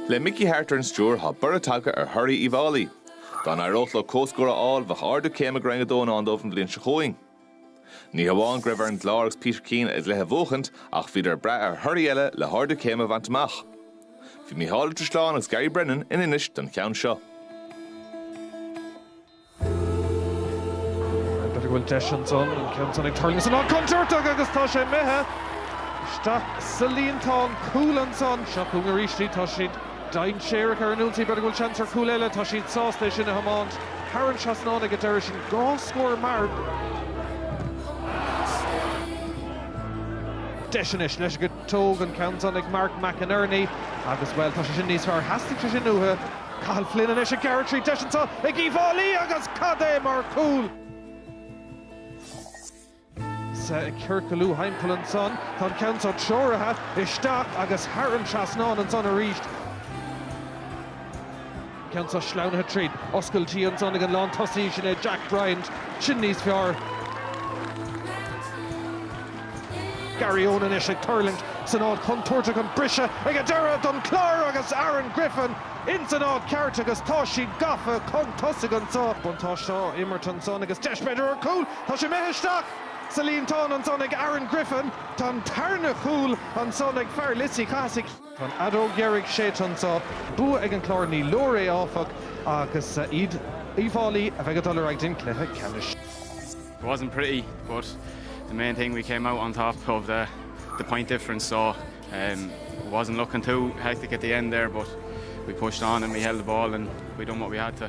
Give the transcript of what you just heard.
Le Mickey Harte ar an stiúir, tá borradh tagtha ar thorthaí Uíbh Fháilí. Dá n-éireodh leo comhscór a fháil, bheadh ardú céime go Roinn 2 i ndán dóibh an bhliain seo chugainn. Ní hamháin go raibh ar an gClár agus Peter Keane a gcluiche a bhuachaint ach bhíodar ag brath ar thorthaí eile le hardú céime a bhaint amach. Bhí Micheál Ó Drisleáin agus Gary Brennan in Inis don cheann seo. B'fhéidir go bhfuil deis ansan, an ceann san ag tuirlingt san áit contúirteach agus tá sé imithe isteach sa líontán cúl ansan. Seo chugainn arís í, tá siad dainséarach ar an ionsaí, b'fhéidir go bhfuil seans ar chúl eile, tá siad sásta é sin a thiomáint thar an trasnán ag an deireadh sin, dhá scór mar. Deis anois leis go. Tóg an ceann san ag Mark McInerney agus, bhuel, tá sé sin níos fearr. Theastaigh sé sin uathu. Cathal Flynn anois ag gearradh tríd. Deis anseo ag Uíbh Fháilí agus cad é mar chúl! Sea, ag ciorcalú thimpeall ansan. Tá an ceann seo treoraithe isteach agus thar an trasnán ansan arís. Ceann seo sleamhnaithe tríd. Oscailt ansan ag an lán tosaigh, sin é Jack Bryant, sin níos fearr. Garryowen anois ag tuirlingt san áit chontúirteach, an briseadh ag an deireadh don Chlár agus Aaron Griffin ins an áit cheart agus tá siad gafa chun tosaigh anseo. Buntáiste á imirt ansan agus deis b'fhéidir ar chúl, tá sé imithe isteach sa líontán ansan ag Aaron Griffin, tá an tarna chúl ansan ag fear Lios Uí Chathasaigh. Tá an fheadóg dheiridh séidte anseo. Bua ag an gClár ní leor é áfach agus is iad Uíbh Fháilí a bheidh ag dul ar aghaidh don chluiche ceannais. It wasn't pretty but the main thing we came out on top of the the point difference so um it wasn't looking too hectic at the end there but we pushed on and we held the ball and we done what we had to.